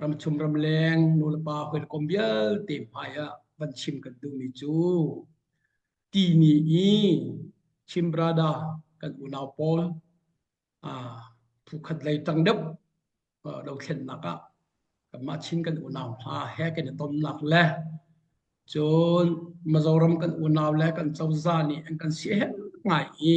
Ramchung ramleng nulepa hawikom vialte hmaiah van chim kan duhmi cu ti ni i Chimbrada kan unau pawl phukhat lei tang deuh dothlennak ah kanmah Chin kan unau hna he kan i tonnak le cun Mizoram kan unau le kan cozah nih an kan siaherh ngai i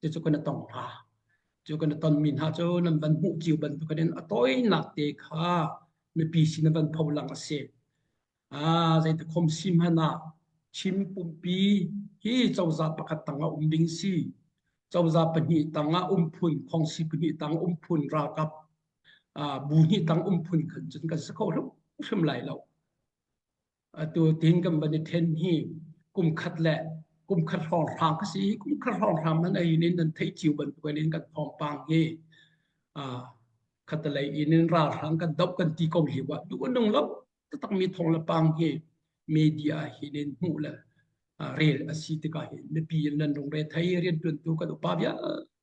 cucu kan tong hna cu kan tonmi hna cu nan van hmuh cio bantuk in a tawinak te kha mipi sin van pho lang a si a zeite khom si hmanh ah chim pumpi hi cozah pakhat tang a um ding si cozah pahnih tang ah um phun khong si pahnih tang um phun ralkap bu hnih tang um phun khan cun kan si kho hrim lai lo Atu tin kan van i then hi kum khat le kum khat hrawng hrang ka si kum khat hrawng hrang man ai in nan thei chiu bantuan in kan phampang hi a khatalei in in ra hrang kan dop kan ti ko hi wa du nung lo tak mi thong la pang hi media hin in mu le rel asi tika hi mipi in nan rung re thai rian tun tu kan upa bia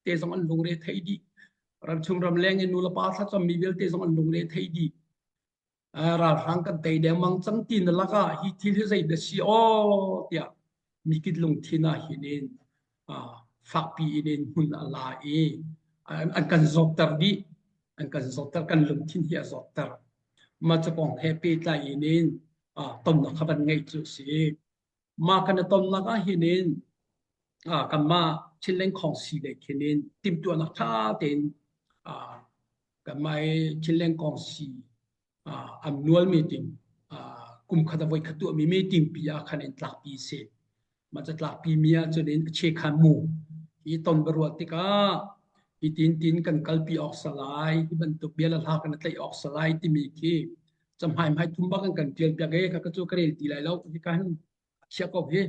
te zong an lung re thai di ram chung ram leng in nu la pa tha chom mi vel te zong an lung re thai di ralhrang kan tei dengmang cang ti na lakah hi thil hi zei na si aw tiah mikit lungthin ah hin in fakpi in in hmun a la i an kan zawkter dih an kan zawkter kan lungthin hi a zawkter ma ca kong he pehtlai in in tonnak kha van ngeih cu si mah kan i tonnak ah hin in kanmah thilling khong si le khin in timtuahnak ṭha tein kanmah i thilling kong si an nualmi ting kum khat a voi khat tuahmi meeting pi ah khan in tlakpi se mah ca tlakpi mi ah cun in a che khan mu hi ton baruah tikah hi tin tin kan kalpi awk salai hi bantuk bia la hla kan tlaih awk salai timi khi Chamhai mai thum bak an kan tial piak e ka chu ka rel ti lai lo hi kan chia ko hi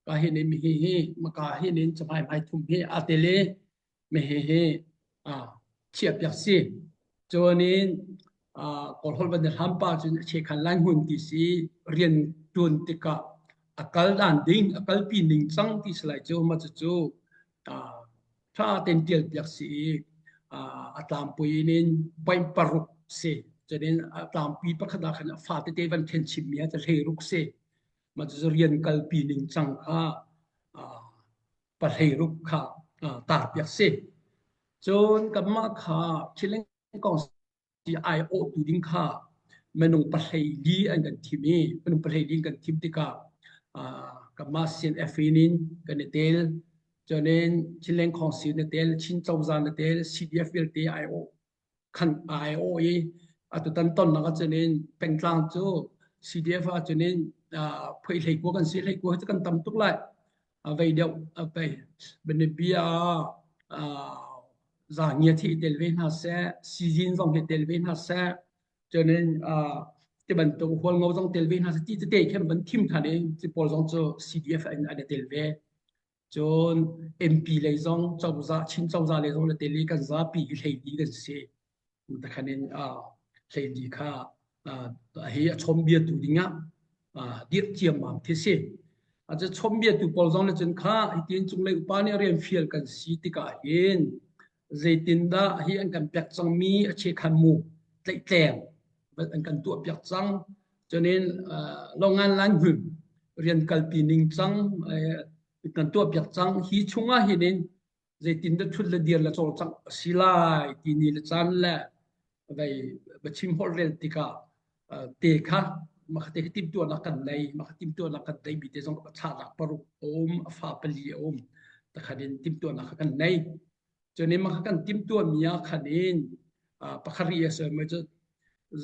ka hi ne mi hi hi maka hi ne chamhai mai thum hi a te le me hi hi a chia piak si chuanin a kol hol ban ham pa chun che khan lai hun ti si rian tun tika akal dan ding akal pi ning chang ti slai chu ma chu chu a ṭha tein ṭialpiak si i a tlampui in in paih paruk si cunin a tlampi pakhat ah khan a fa tete van khen chimmi a hleiruk si ma cu rian kalpi ning cang kha pahleiruk kha tarpiak si cun kanmah kha thileng kong ti aiawhtu ding kha minung pahleili an kan thim i minung pahleili in kan thim tikah kanmah CNF in kan i tel cuanin Chinleng Council na tel Chin Cozah na tel CDF vialte aiawh khan aiawh i atutan tonnak ahcun pengtlang cu CDF ahcun phuihlei kua kan si hlei kua cu kan tam tuk lai a vei deuh a pei biapi a za ngia thi tel ve hna se sizin zong hi tel ve hna se chuanin ti bantuk hual ngo zong tel ve hna se ti tete khem ban thim than i chi pawl zong chu CDF in an tel ve cun MP lei zong cozah chin cozah lei zong le tel i kan zapi i hlei di kan si Takhan in hleidi kha hi a chawmbia tu dingah dirh ciammam khi si. A cu chawmbia tu pawl zong nih cun kha hitin cunglei upa nih rian fial kan si tikah hin zeitindah hi an kan pek cangmi a che khan mu tleihtleng an kan tuah piak cang cunin longan lan hun rian kalpi ning cang kan tuah piak cang hi chungah hin in zeitin da thut le dir le cawlcangh a si lai ti ni le caan le vei chim hol rel tikah te kha maka te tim tua na kan nei maka tim tua na kan nei bi te zong a tha nak paruk om a fa pali a om takhanin tim tua na kan nei choni maka kan tim tua mia khanin pakhari asa mai chu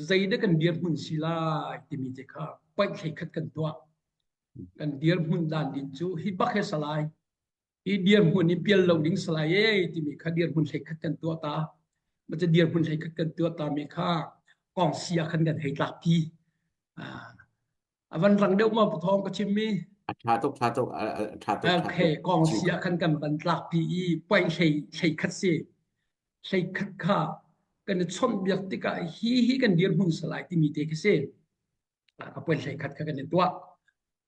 zeida kan dir mun si lai timi te kha pait hlei khat kan tua kan dir mun dan din chu hi bak he salai Hi dirhmun hi pial lo ding salai e timi kha dirhmun hleikhat kan tuah ta. Ma ca dirhmun hleikhat kan tuah ta mi kha kong si ah khan kan hei tlak pi. Avan rang deuh ma pathawng ka chim mi. Tha tuk tha tuk tha tuk. Okay, kong si ah khan kan ban tlak pi i poi hlei hleikhat si. Hleikhat kha kan i chon biak tikah hi hi kan dirhmun salai timi te khi si. A poi hleikhat kha kan i tuah.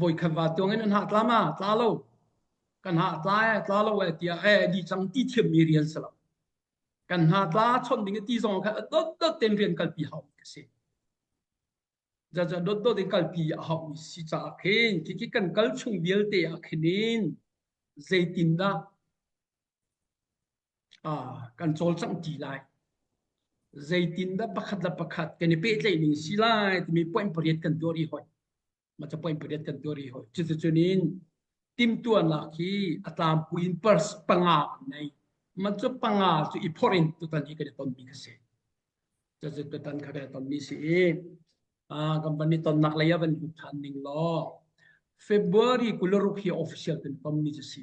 voi khat va tuang in an hah tla ma tla lo kan hah tla e tla lo e tiah e di chang ti thiam mi rian selo kan hna tla chon ding ti zong kha dot dot ten rian kal pi hau ka si ja ja dot dot in kal pi a hau mi si cha khin ki ki kan kal chung vialte a khinin zeitin da a kan chol chang ti lai zeitin da pakhat la pakhat kan i pe tlei ning si lai timi point pariat kan tuari hoi ma cha point pariat kan tuari ho cucu nin timtuan la khi atlam puin pers panga nei man cu panga cu i phorin tutan hi kan ton mi ka se cucu tutan kha kan ton mi si i a company ton nak lei avan hu than ning lo February kularuk hi official kan tom mi chu si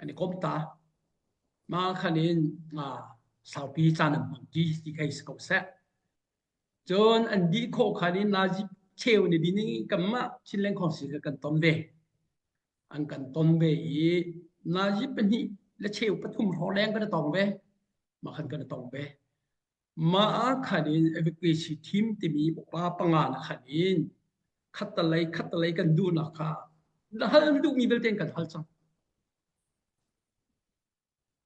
An i komh ta. Mah khan in saupi caan an hmang ti ti kei si ko seh. Cun an dih khawh khan in Nazi cheu ni din i kanmah Chinland Council ka kan ton ve. An kan ton ve i Nazi pahnih le cheu pathum hrawleng kan i tong ve. Mah khan kan i tong ve. Mah ah khan in evacuation team timi upa panga na khan in khattalei khattalei kan duhnak kha na hal an duhmi vialte in kan hal cang.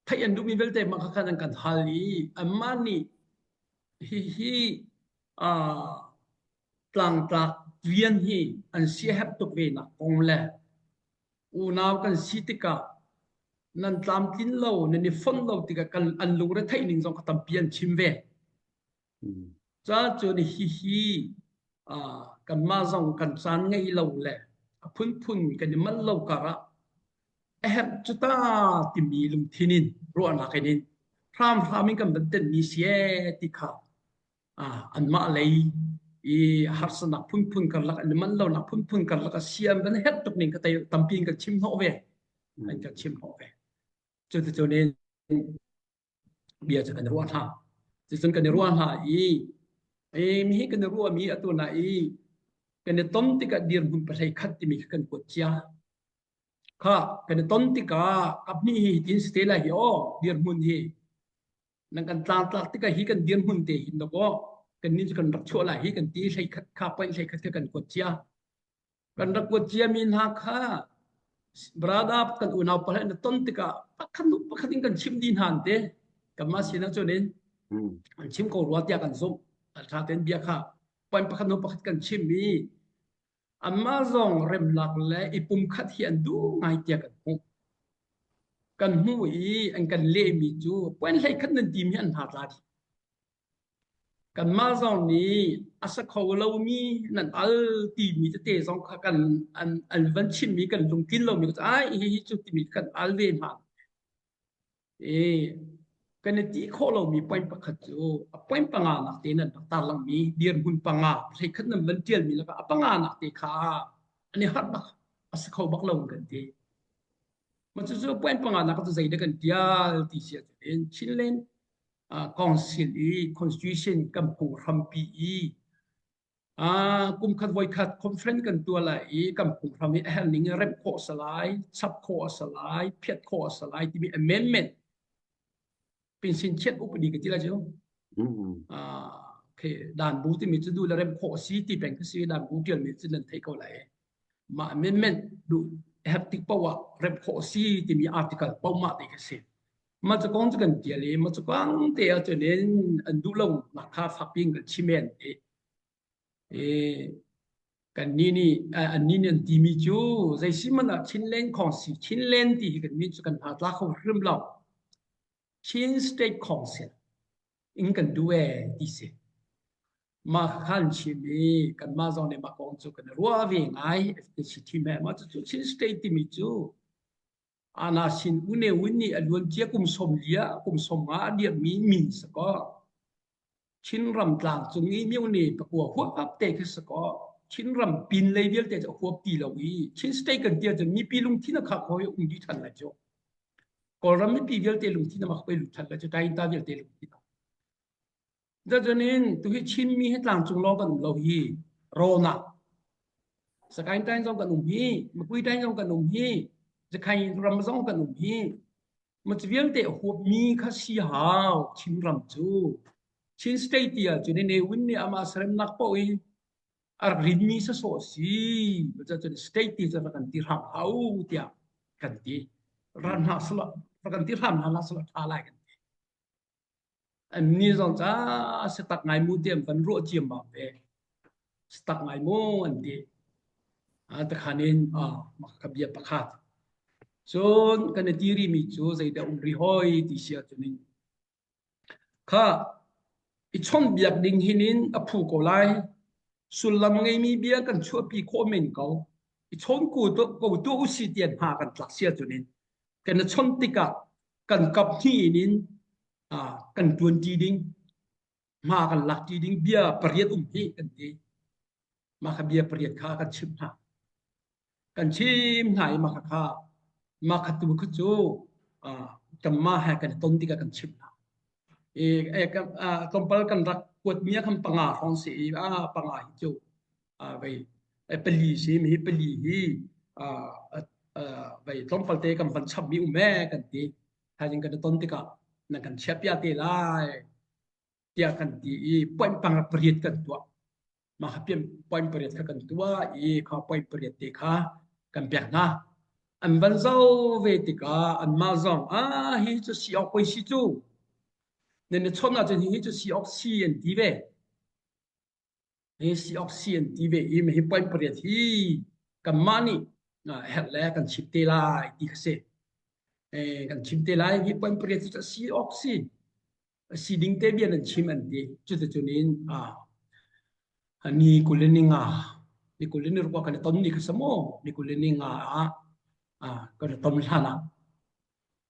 Theih an duhmi vialte mah kha khan an kan hal i anmah nih hihi uh, tlangtlak rian hi an siahep tuk ve nak kong le Unau kan si tikah nan tlamtlin lo, nan i fonh lo tikah kan an lungretheih ning zong kha tampi an chim ve. Cacun hihi kanmah zong kan caan ngei lo le a phunphun kan i manh lo karah a herh cu ta timi lungthin in ruahnak in in hramhram in kan van tenhmi si ee ti kha ah anmah lei i harsanak phunphun karlak an man lonak phunphun karlak a siam van herh tuk ning ka tei tampi ka chim hnawh ve an ka chim hnawh ve cu tu ne bia cu kan ruah hna cu cun kan ruah hna i e mi hi kan ruah mi atu na i kan ton tikah dir hmun pahlei khat timi kan kuat chia kha kan ton tikah abni hi tin stela hi o dir hmun hi nan kan tlartlak tikah hi kan dirhmun te hin lakaw kan ni kan rak chuah lai hi kan ti hlei khat kha pain hlei khat kan kuat chia kan rak kuat chia mi hna kha brada kan unau pala na ton tikah pakhat pakhat in kan chim di hnan te kanmah sinak chunin kan chim ko rua tiah kan zumh alṭha ten bia kha pain pakhat nu pakhat kan chim i Anmah zong remnak le i pumkhat hi an duh ngai tiah kan hmuh. Kan hmuh i an kan lehmi cu puan hlei khat nan tim hi an hna tla dih. Kanmah zong nih a sa kho lomi nan al timi tete zong kha kan an, an van chimmi kan lungtlin lomi ko ai hi hi cu timi kan al ve hna. i kan i ti khawh lomi point pakhat cu a point panga nak te nan rak tar langmi dirhmun panga phlei khat nan van tialmi lakah a panga nak te kha an i harh bak a si kho bak lo kan ti ma cu cu point panga nak cu zeidah kan tial ti sia in Chinland council i constitution kan phung hrampi i Uh, kumkhat voikhat conference kan tuah lai i kan phunghram i a herning i rep khawh sa lai, chap khawh a sa lai, phiat khawh a sa lai timi amendment pinsin chiat upadi ka tila cu. Ah, okay, dan bu timi cu du la rem khawh si ti peng ka si dan bu tial mi cu nan thei ko lai. Ma amendment du heptic power rep khawh si timi article pau ma ti ka si. Mah ca kong cu kan tial i mah cu kang te ah cun in an duh lo nak kha fak piin kan chim men i i kan ni nih an ni nih an ti mi cu zei si man ah Chinland khong si Chinland ti hi kan min cu kan hna tla kho hrim lo Chin State Council in kan du e ti si mah khan chim i kan mah zong nih mah kong cu kan ruah ve ngai FTCT me mah cu Chin State timi cu Ana sin uneun nih a luancia kum sawm li ah kum sawm nga a dirhmi min sakaw Chinram tlang cung i myone pakua huap te kha sakaw Chinram pin lei vialte cu a huap ti lo i Chin state kan tia cun mipi lungthin a khak hoi um dih than la cu Kawlram mipi vialte lungthin a mak oi lut than la cu Tainta vialte lungthin Dacunin tuhi Chinmi hi tlangcung lo kan um lo hi Rona Sakain tain zong kan um hi Makui tain zong kan um hi Jakhai ram zong kan um hi mach vialte huap mi kha si hau Chin ram cu Chin state ya cu ne win ni ama sarem nak po i ar rin mi sa so si baca cun state ti ca kan ti ram hau tia kan ti ran ha sala kan ti ram ha la sala tha lai kan ti Annih zong ca sitak ngai mu tiam kan ruah ciam bang ve. Sitak ngai mu an ti. Ah takhanin ah ka bia pakhat. Cun kan i tiri mi cu zeidah um ri hoi ti sia cu ning. Kha i chom biak ding hinin a phu ko lai. Sullam ngeimi bia kan chuahpi khawh men ko. I chon ku to ko tu usi tian ha kan tlak sia cu ning. kan i chawnh tikah kan kap hnih in kan ṭuanṭi ding hma kan lakṭi ding bia pariat um hi kan ti mah kha bia pariat kha kan chimh hna kan chim hna i mah kha kha mah kha tu kha cu tamma he kan ton tikah kan chimh hna i tlawmpal kan rak kuat mi khan panga hrawng si i a panga hi cu vei pali sim hi pali hi vei tlawmpal te kan van chap mi um e kan ti thaizing kan ton tikah na kan chia pia te lai tiah kan ti i point pang pariat kan tua ma hapiam point pariat kha kan tua i kha point pariat te kha kan pek hna an van zo ve tikah an ma zong ah hi cu si ok poi si cu nên chon na chun hi chu si ok si an ti ve Heysioxy an ti ve i mah hi point pariat hi kanmah nih herh le kan chim te lai ti kha si. kan chim te lai hi point pariat cu heysioxy si ding te bian an chim an ti cuticun in ni kul ni nga ni kul ni rukua kan i ton ni kha sa maw ni kul ni nga ah kan i ton hlan ah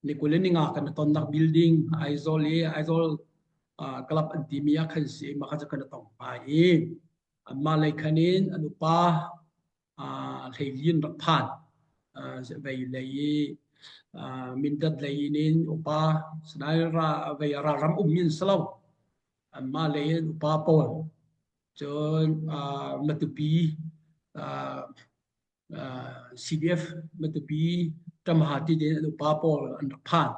Nikulening ah kan tonnak building Aizawl i Aizawl uh, club an timi ah khan si maka ca kan tong pai i mah lei khan in an upa uh, hleilin rak phan uh, vei lei i uh, mindat lei in upa sanai ra vei ra ram umin selo ma lei in upa pawl cun matupi CDF matapi tamha ti den upa pawl an rak phan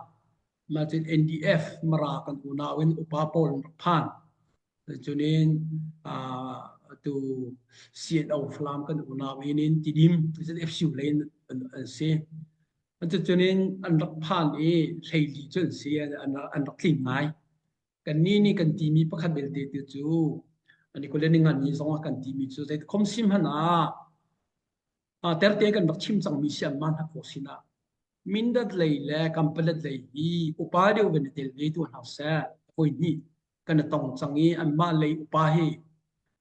ma cin NDF mara kan unau in upa pawl an rak phan cunin tu CNO Falam kan unau inin tidim FCU lein an si an cunin an rak phan i hleili cun si an rak tling ngai Kannih nih kan timi pakhat belte te cu Nikolai ngani zong ah kan timi cu zei khom sim hman ah terte kan rak chim cangmi si an man hak ko sinah mindat lei le kampalat lei hi upa deuh ben tel ve tu hna se hoi ni kan tong cang i an mah lei upa hi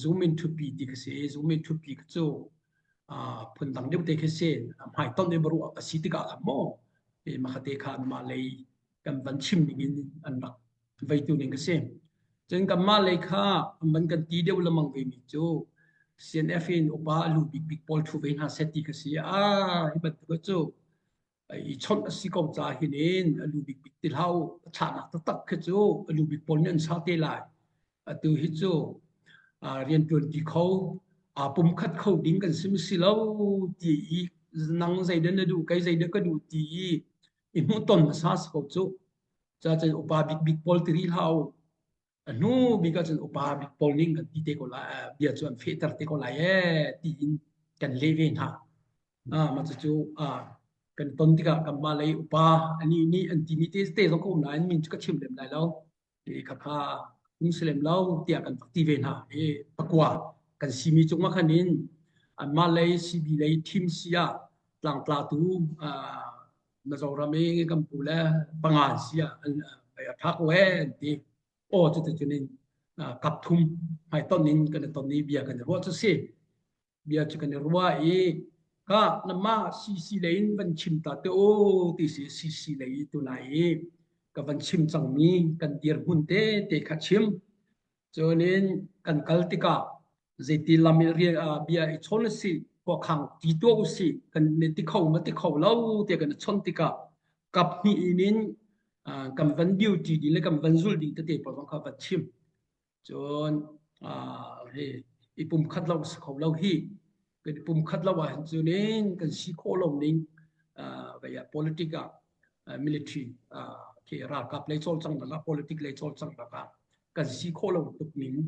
zoom in thupi ti ka se zoom in thupi ka cu phun dang deuh te khe sen hmai ton dei baru a si tikah a mo e makhate kha ma lei kan van chim ning in an rak veitu ning ka se chen kan ma lei kha man kan ti deuh lamang ve mi cu CNF in upa lu big big pawl thu ve hna se ti ka si a hi ban ka cu i chawnh a si ko ca hin in a lu bik bik ti hlau a chahnak taktak khi cu a lu bik pawl nih an sau te lai atu hi cu rian ṭuanṭi kho aa pum khat kho ding kan sim si lo ti i nang zeidan na duh kai zeidan ka duh ti i i hmuhton a sa ko cu ca cun upa bik bik pawl tiri hlau a hnu bik ah cun upa bik pawl ning an ti te ko lai bia cu an fehter te ko lai ee ti in kan le ve hna ah ma cu ah kan ton tikah kan ma lei upa ani ni an ti mi te te zong ko na an min chu ka chim lem lai lo e ka kha um se lem lo tia kan fakti ve hna e pakwa kan simi chung ma khan in an ma lei CB lei team sia tlang tla tu Mizoram i kan pu le panga sia an a thak le ti o cu tucun in kap thum mai ton in kan ton i bia kan ruah cu si bia cu kan ruah i ka nama cc le in van chim ta te o ti si cc le i tu lai i ka van chim cang mi kan dir mun te te kha chim cunin kan kal tikah zeiti lam i rial bia i chol si ko khang ti to u si kan ne ti kho ma ti kho lo te kan chon tika kap ni inin kan van beauty di le kan van zul ding te te pa wang kha va chim chon he i pum khat lo si kho lo hi kan i pum khat lo a han chu nin kan si kho lo ning vaya politica military ke ral kap le chol chang la politic le chol chang la kan si khawh lo tuk ning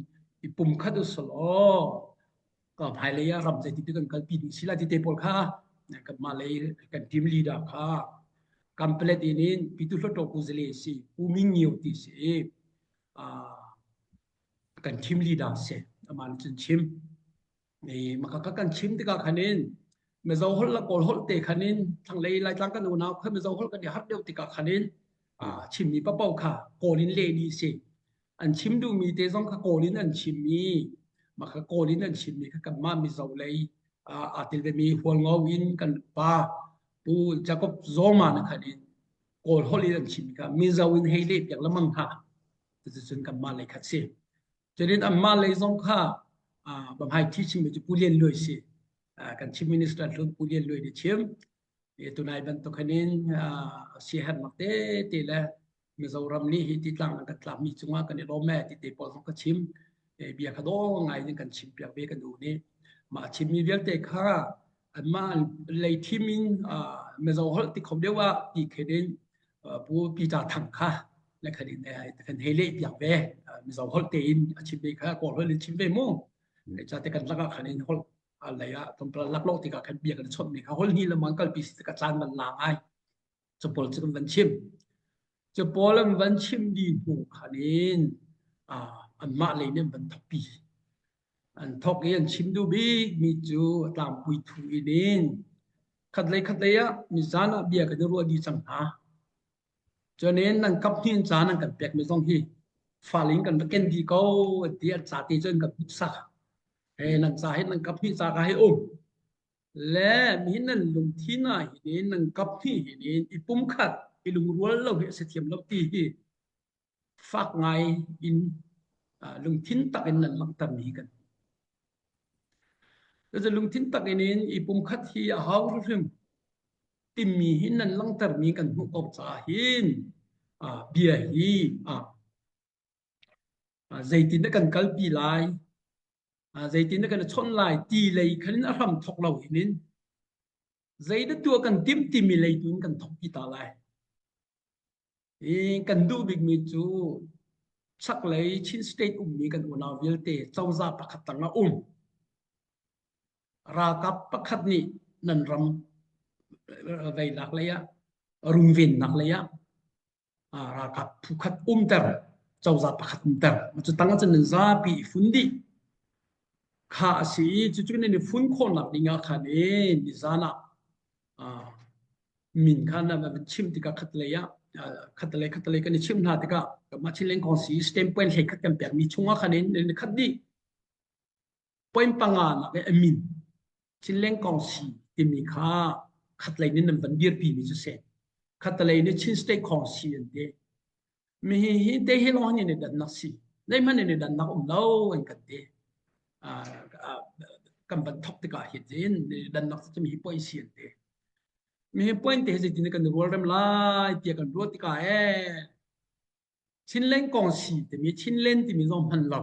i pumkhat usal aw ka hmailei ah ram zeiti te kan kalpi ding sila ti te pawl kha kan mah lei kan team leader kha kampelet in in pitu hloto ku zele si uming ngio ti si kan team leader se aman chin chim Ni maka ka kan chim tikah khanin Mizo holh la Kawl holh te khanin thanglei Laitlang kan unau kha Mizo holh kan i har deuh tikah khanin ah chimmi papo kha Kawl in le ni si an chim duhmi te zong kha Kawl in an chimmi maka Kawl in an chimmi kha kanmah Mizo lei aa tel vemi hualngo in kan pa Pu Jacob Zoma na khanin Kawl holh in an chimmi kha Mizo in hei le piak lamang ha cucun kanmah lei khat si Cutin anmah lei zong kha hmaithi chimmi cu Pu Lian Luai si kan Chief Minister hlun Pu Lian Luai nih chim tunai bantuk khanin siaherhnak tete le Mizoram nih hi ti tlang an rak tlakmi cungah kan i lawm e ti te pawl zong ka chim bia kha dawng ngai in kan chim piak ve kan u nih mah chimmi vialte kha anmah lei thim in Mizo holh ti khom deuh ah ti khenin Pu Peter Thang kha na khan in kan hei leh piak ve mizo holh te in a chim ve kha ko holh in chim ve mu cha te kan laka khan in holh alai a tumpal lak lo tika kan bia kan chot mi kha holh ni le mangkal pi ka tlan van la ai chapol chu van chim chapol an van chim di hnu khan in an ma le ne van thapi an thok i an chim duh bik mi cu a tlangpui thu in in khat lei khat lei ah mizan ah bia kan i ruah dih cang hna cuanin nan kap hnin caan an kan pek mi zong hi falin kan va ken dih ko an ti an ca te cun kan put sak e nan ca hi nan kap hni ca ka hi um le mi hin nan lungthin ah hin in nan kap hni hin in i pum khat i lungrual lo hi a si thiam lo ti hi fak ngai in lungthin takin nan langhtermi kan Cucu lungthin takin in i pumkhat hi a hau hrim timi hi nan langhtermi kan hmuh ko caah hin bia hi zeitin na kan kalpi lai zeitin na kan chawnh lai ti lei khan a hram thok lo hin in zeidah tua kan tim timi lei tu in kan thok pi ta lai I kan duh bikmi cu chaklei Chin State ummi kan unau vialte cozah pakhat tang ah um. Ralkap pakhat nih nan ram veilak lei ah rungvennak lei ah ralkap pukhat umter cozah pakhat umter cu tang ah cun nan zapi i fun dih kha a si i cucu nan i fun khawhnak ding ah khan e nizan ah Ah, min khan na chim tikah khatlei ah khatlei khatlei kan i chim hna tikah mah chin leng kong si stem point hlei khat kan pek mi chunga khan in khat di point panga nak e min chin leng kong si timi kha khatlei ni nan van dir pi mi chu se khatlei ni chin state kong si an te mi hi hi te hi long ni dan nak si nei man ni dan nak um lo an kan te kan ban thok tika hi jin dan nak chi mi poi sian te mi hi point te ji tin kan rol rem lai tia kan ro tika e chin leng kong si te mi chin len ti mi zong man lo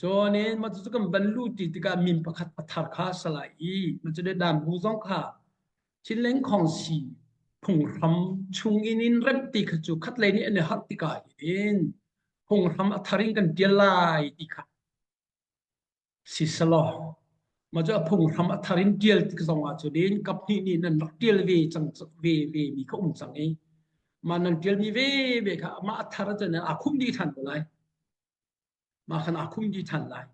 Cun e mah cu kan ban lu ti tikah min pakhat a thar kha a salai i mah cu dam bu zong kha thileng khong si phunghram chung in in rem ti kha cu khat lei nih an i harh tikah in phunghram a thar in kan tial lai ti kha si salo ma cu a phunghram a thar in tial tik zong ah cun kap hnih nih nan rak tial ve cang ve ve mi kha um cang i ma nan tial mi ve ve kha ma a thar cun a khum di than ko lai mah khan aa khung dih ṭhan lai.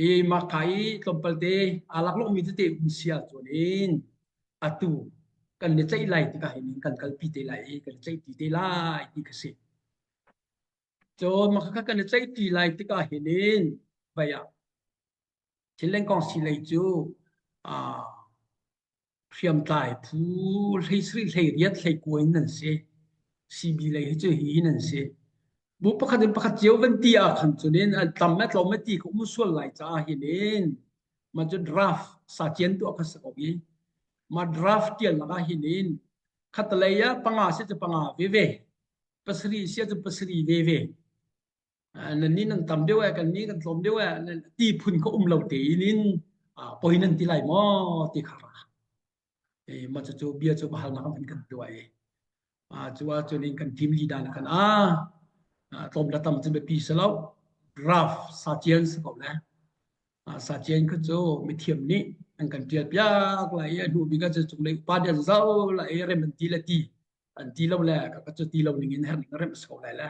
I mahka i tlawmpalte aa laklawhmi tete um si ahcun in atu kan i tlaih lai tikah hin kan kalpi te lai i kan i tlaihti te lai ti ka si. Cun mah kha kan i tlaihti lai tikah hin in vei ah thil lengkong si lei cu aa hriamtlai phu hlei sri hlei riat hlei kuai in an si CB lei hi cu hi in an si bu pakhat in pakhat cio van ti ah khan chunin an tam a tlawm a ti ko mu sual lai ca hin in ma chu draft sa chian tu kha sa ko hi ma draft tial laka hin in khatalei a panga si chu panga ve ve pasri sia chu pasri ve ve nan nin an tam deuh e kan ni kan tlawm deuh e ti phun ka um lo te inin poi nan ti lai mo ti kha e ma chu chu bia chu bahal na kan kan tuai a chuwa chun in kan team leader na kan a tlawm la tam chin be pi selo graph sa chian se ko le sa chian ku chu mi thiam ni an kan tial piak la e nu bi ga chu chung le pa dia zau la e rem ti le ti an ti lo le ka ka chu ti lo ning in her rem so le le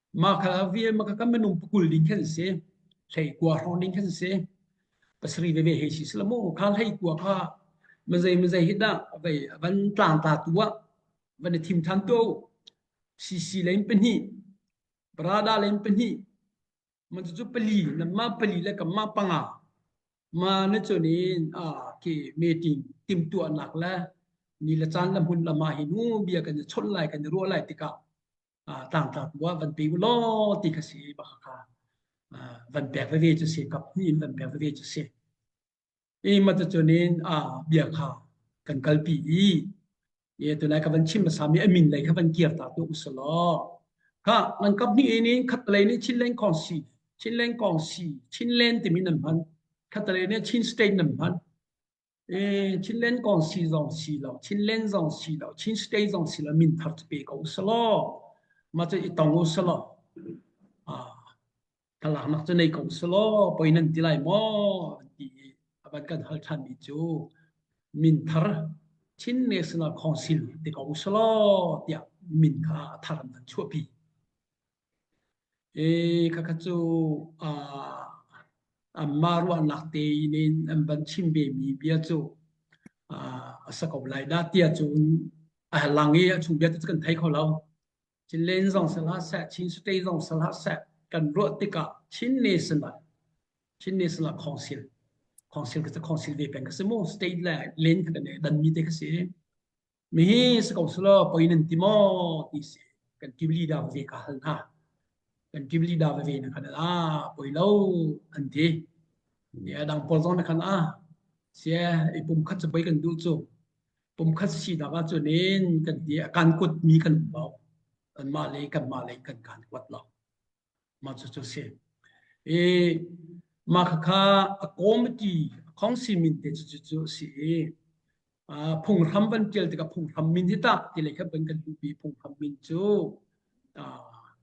Mah kha vial mah kan minung pakul ding khan si hlei kua hron ding khan si pasri veve he si selamu kha hlei kua kha manzai manzai hit da vai van tlang ta tu a van thim than tu sisi lein pani brada lein pani man chu pali namma pali le kamma panga ma na chonin a ke meeting tim tu anak la ni la chan la mun la ma hi nu bia kan chol lai kan ro lai tika tangtang tu ah van pe u law ti ka si ba kha van pek veve cu si kap ni in van pek veve cu si i mata chunin a bia kha kan kalpi i ye tu lai ka van chim sami amin lei kha van kir ta tu usalo ha nan kap ni in in khat lei ni chin leng kong si chin leng kong si chin len timin nan man khat lei ni chin state nan man Eh, Chinland kong si zong si lo, Chinland zong si lo, Chin state zong si lo, min thar te pe ko salo. Ma chu i tong u salo. Ah, talak nak chu nei ko salo, poi nan ti lai mo, ti abat kan hal than mi chu. Min thar Chin National Council te ko salo, tia min kha thar nan chuapi. Ee, khakha cu ah anmah ruahnak tein in an van chim vemi bia cu a sa ko lai dah tiah cun a lang i a chung vialte cu kan thei kho lo. Cilen zong sal ha seh, Chin state zong sal ha seh, kan ruah tikah Chin nation ah Chin nation ah khawngsil khawngsil ka si khawngsil ve peng ka si mu state le len kha kan i danmi te ka si. mihi si ko selaw poi nan ti maw ti si kan team leader ve ka hal hna kan team leader ve na kan ah poi lo an ti ya dang paul zong na kan ah sia i pum khat poi kan dul chu pum khat si da ga chu nen kan ti kan kut mi kan bao an ma le kan ma le kan kan kwat lo mah cu cu si i mah khakha a committee a council min te cu cu a si i phunghram van tial tikah phunghram min hi tah ti lei khat ban kan duhmi phunghram min cu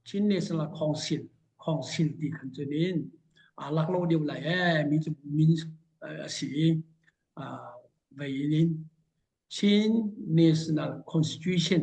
Chin National Council council ti khan cu nin lak lo deuh lai e mi cu min a si i vei nin Chin National Constitution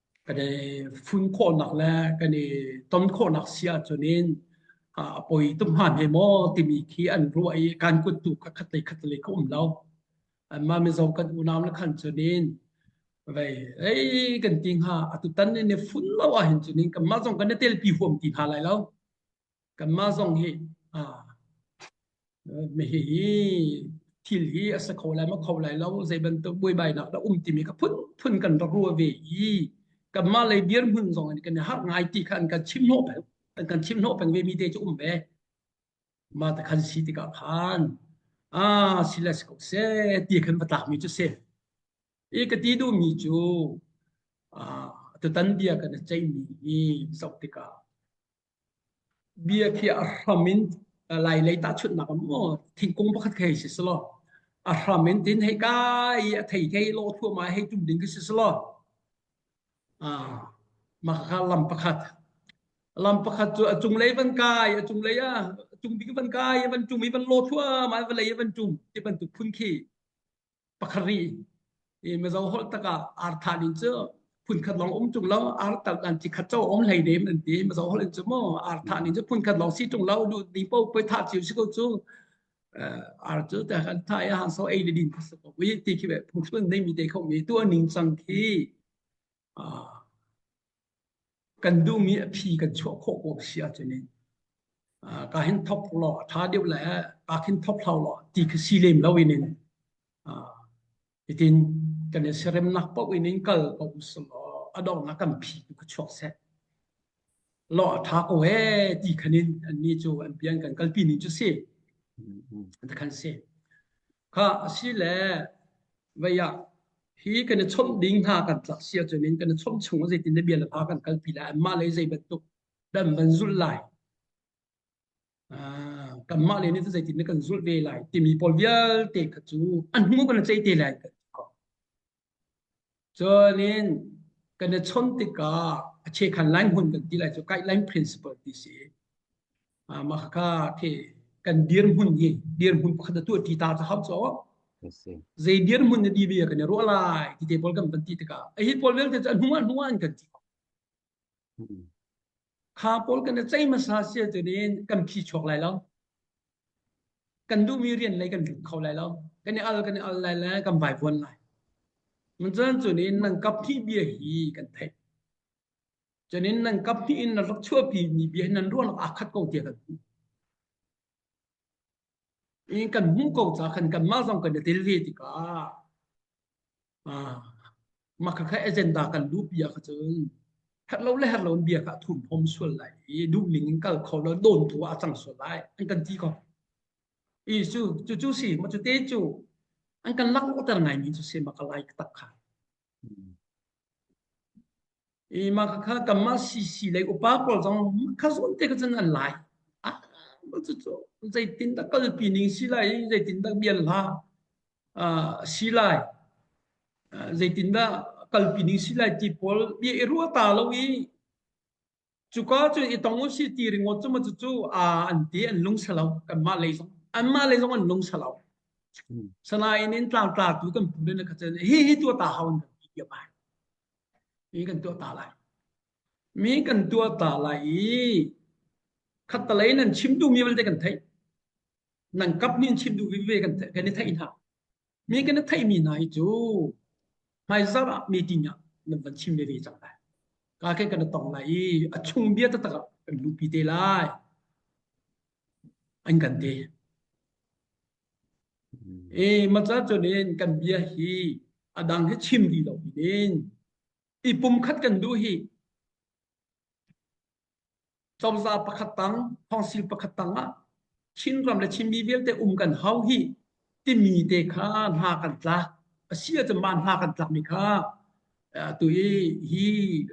kan i fun khawhnak le kan i ton khawhnak si ahcun in a poi tum han he maw timi khi an ruah i kan kut tu kha khatlei khatlei ka um lo amma mizo kan unau na khan cun in vei ei kan ti hnga atutan in ne fun lo ah hin cun in kanmah zong kan ne tel pi huam ti hna lai lo kanmah zong hi mehih hi thil hi a sa kho lai ma kho lai lo zei bantuk buaibainak dah um timi ka phun phun kan rak rua ve i kanmah lei dir hmun zong kan i har ngai ti khan kan chim hnawh pel kan chim hnawh peng ve mi te cu um ve ma ta khan si tikah khan ah si les ko se ti khan patak mi cu se i ka ti du mi cu tutan bia kan a chei mi hi zoh tikah Bia khi a hram in lai lei tahchunhnak a maw thingkung pakhat khi si selaw a hram in tin hei kai i a thei thei law thua ma hei tum ding khi si selaw mah kha lam pakhat lam pakhat cu a cunglei van kai a cunglei a cung bik van kai i van tum i van law thua ma vawlei i van tum ti bantuk phun khi pakharih i mizo holh takah arthan in cu phunkhat lawng um chung lo artal an chi khat cho om hlei nem an ti mizo holh in cu mo arthan in cu phunkhat lawng si chung lo du ni po poi tha chiu si ko cu ar cu ta kan thai han so ei le din ko wi ti ki be phung sun nei mi te kho mi tu aning sang khi kan duhmi a phi kan chuah khawh ko si ahcun in ka hin thop law a tha deuh le ka hin thop hlau law ti ka si lem lo in in itin kan i seremnak paoh in in kal ko usal a dongnak kan phi tu ka chuak seh lawh a tha ko ee ti khan in annih cu an pian kan kalpi ning cu si takhan si kha asi le vaya hi kan i chomh ding hna kan tlak sia cun in kan i chomh chung zeitin le bia le pa kan kalpi lai anmah le zei bantuk dan van zul lai Ah, kanmah le nih cun zeitin na kan zulh ve lai timi pawl vialte kha cu an hnu kan i ceih te lai. Cuanin kan i chon tikah a chekhan lai hmun kan ti lai cu guideline principle ti si. Ah, mah kha the kan dirhmun hi dirhmun khat tu ti ta ta hap cho zei dirhmun na di ve kan i ro lai ti te pawl kan pan ti tikah a hi pawl vialte cu an hnu an hnu an kan ti Kha pawl kan i ceih hmasa sia cun kan phi chuak lai lo. Kan duhmi rian lei kan lut kho lai lo. Kan i al kan i al lai le kan vai vuan lai. Cun cunin nang kap phi bia hi kan theih. Cunin nang kap phi in na rak chuahpi mi bia nan ruang aa khat ko tia kan. i kan hmuh ko ca khan kan mah zong kan i tel ve tikah maka kha agenda kan lu bia kha cun herh lo le herh lo bia kha thum hom sual lai i duh ning in kal kho lo don tu a cang sual lai an kan ti ko i cu cu cu si ma cu te cu an kan lak ter ngai mi cu se ma ka lai tak kha I mah kha kanmah sisi le upa pawl zong kha zawn te kha cun an lai. Ah, cucu zeitindah kalpi ning si lai, zeitindah bian hla si lai, zeitindah kalpi ning si lai ti pawl bia i ruah ta lo i Cuka cun i tong u si ti ringawt cu macu cu aa an ti an lung salo kanmah lei zong anmah lei zong an lung salo sanain in tlang tla tu kan pu le na kacen hi hi tua ta hau an kan ti tia bai mi kan tua ta lai mi kan tua ta lai i khatalei nan chim tu mi belte kan thei nan kap nin chim tu vi ve kan thei kan i thei hna Mi kan theihmi hna hi cu hmaizarh ah meeting ah nan van chim ve ve cang lai. Ka khe kan tong lai i a chung bia taktak ah kan lupi te lai. An kan te. E macha chunin kan bia hi adang hi chim di lo din. I pumkhat kan du hi cozah pakhat tang thawngsing pakhat tang ah Chinram le Chinmi vialte um kan hau hi timi te kha hna kan tlak asi ahcun mah hna kan tlak mi kha tu i hi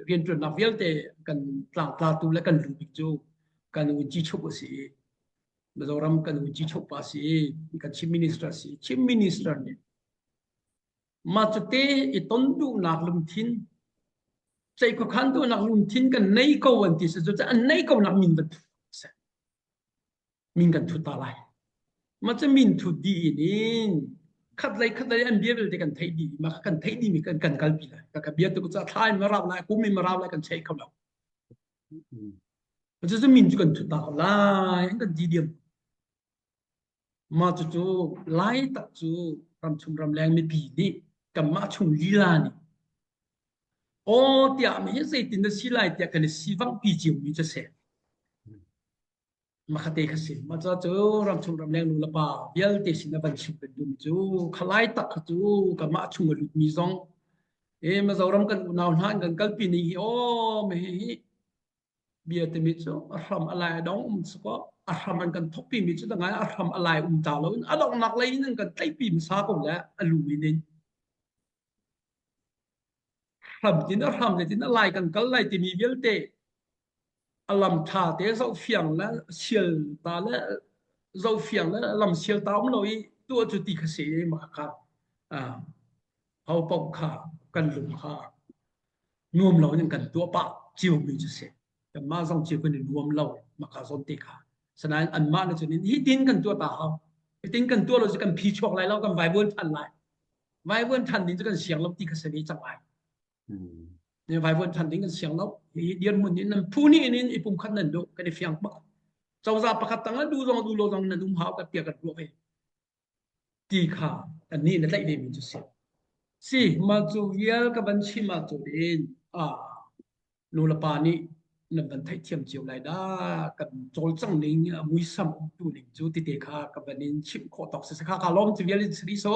riantuannak vialte kan tlang tlatu le kan luh cu kan un chi chuk asi Mizoram kan un chi chuk pa si kan Chin Minister si Chin Minister nih Mah cute i ton duhnak lungthin Cei khuakhan duhnak lungthin kan nei ko an ti si cu an nei ko nak min bantuk si min kan thut ta lai ma cha min thut di in in khat lei khat lei an bia belte kan thei di ma kan thei di mi kan kan kal pi lai ka bia tu cha thai ma raw lai ku mi ma raw lai kan chei kho lo ma cha min chu kan thut ta lai kan di diam Mah cucu lai tak cu ramchung ramleng mipi nih kanmah chung lila nih aw tiah mi hi zeitin na si lai tiah kan i sivangpi ciomi cu a si. Mahate ka si. Mah cu cu ramchung ramleng nu le pa vialte sin a van chim kan duhmi cu khalai tak cu kanmah chung a lutmi zong e Mizoram kan unau hna an kan kalpi ni hi aw me hi Bia timi cu a hram a lai a dong um sakaw a hram an kan thokpi mi cu dangah a hram a lai um ta lo in a donghnak lei in an kan tlaihpi hmasa ko le a lu in in hram tin a hram le tin a lai kan kal lai timi vialte a lam tha te zo fiang le sial ta le zo fiang le lam sial ta um lo i tu cu ti kha se ma kha ho pong kha kan lung kha nuam lo in kan tuah pah cio mi cu si mah zong cio kan i nuam lo maka zon te kha sanain an mah na cun in hi tin kan tuah ta hau hi tin kan tuah lo cu kan phi chuak lai lo kan vai buan than lai vai buan than ding cu kan siang lo ti ka sami cang lai ne vai buan than ding kan siang lo hi dir mun in nan phu ni in in ipum khat nan do kan i fiang pak cawza pakhat tang du zong du lo zong nan um hau ka tia ka tuah ve ti kha annih na tlaih demi cu si. Si, mah cu vial ka van chim ahcun nulepa nih nan van theihthiam cio lai dah. Kan cawlcanghning a muisam umtu ning cu tite kha ka van in chimh khawh tawk si. Khaka lawm cu vial in siri so.